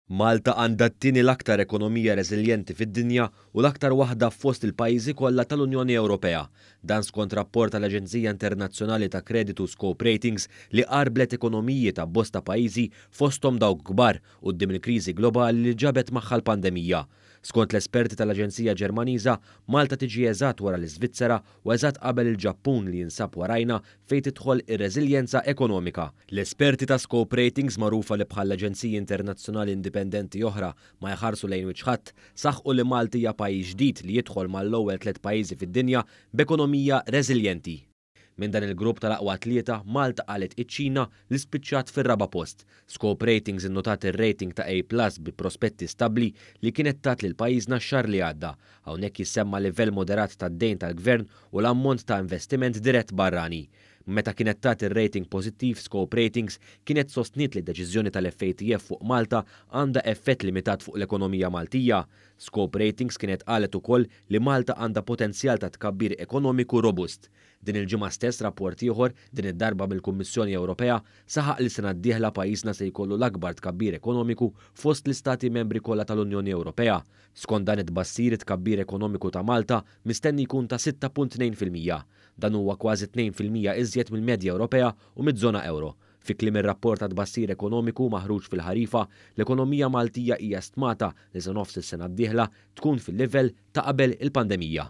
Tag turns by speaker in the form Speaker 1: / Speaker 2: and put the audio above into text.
Speaker 1: Malta għandha t-tieni l-aktar ekonomija reżiljenti fid-dinja u l-aktar waħda fost il-pajjiżi kollha tal-Unjoni Ewropea. Dan skont rapport tal-aġenzija internazzjonali ta' kreditu Scope Ratings li qarrblet ekonomiji ta' bosta pajjiżi fosthom dawk kbar quddiem il-kriżi globali li ġabet magħha l-pandemija. Skont l-esperti tal-aġenzija Ġermaniża, Malta tiġi eżatt wara l-Iżvizzera u eżatt qabel il-Ġappun li jinsab warajna fejn tidħol ir-reżiljenza ekonomika. L-esperti ta' Scope Ratings magħrufa li bħal aġenziji internazzjonali indipendenti oħra ma jħarsu lejn wiċċ ħadd, saħqu li Malta hija pajjiż ġdid li jidħol mal-ewwel tliet pajjiżi fid-dinja b'ekonomija reżiljenti. Minn dan il-grupp tal-aqwa tlieta, Malta qalgħet iċ-Ċina li spiċċat fir-raba' post. Scope Ratings innotat ir-rating ta' A plus bi prospetti stabbli li kienet tat lil pajjiżna x-xahar li għadda. Hawnhekk jissemma livell moderat tad-dejn tal-Gvern u l-ammont ta' investiment dirett barrani. Meta kienet tat ir-rating pożittiv, Scope Ratings kienet sostniet li d-deċiżjoni tal-FATF fuq Malta għandha effett limitat fuq l-ekonomija Maltija. Scope Ratings kienet qalet ukoll li Malta għandha potenzjal ta' tkabbir ekonomiku robust. Din il-ġimgħa stess rapport ieħor, din id-darba mill-Kummissjoni Ewropea, saħaq li s-sena d-dieħla pajjiżna se jkollu l-akbar tkabbir ekonomiku fost l-Istati Membri kollha tal-Unjoni Ewropea. Skont dan it-tbassir it-tkabbir ekonomiku ta' Malta mistenni jkun ta' 6.2 fil-mija. Dan huwa kważi tnejn fil-mija iżjed mill-medja Ewropea u miż-żona ewro. Fi kliem ir-rapport ta' tbassir ekonomiku maħruġ fil-ħarifa, l-ekonomija Maltija hija stmata li sa nofs is-sena d-dieħla tkun fil-livell ta' qabel il-pandemija.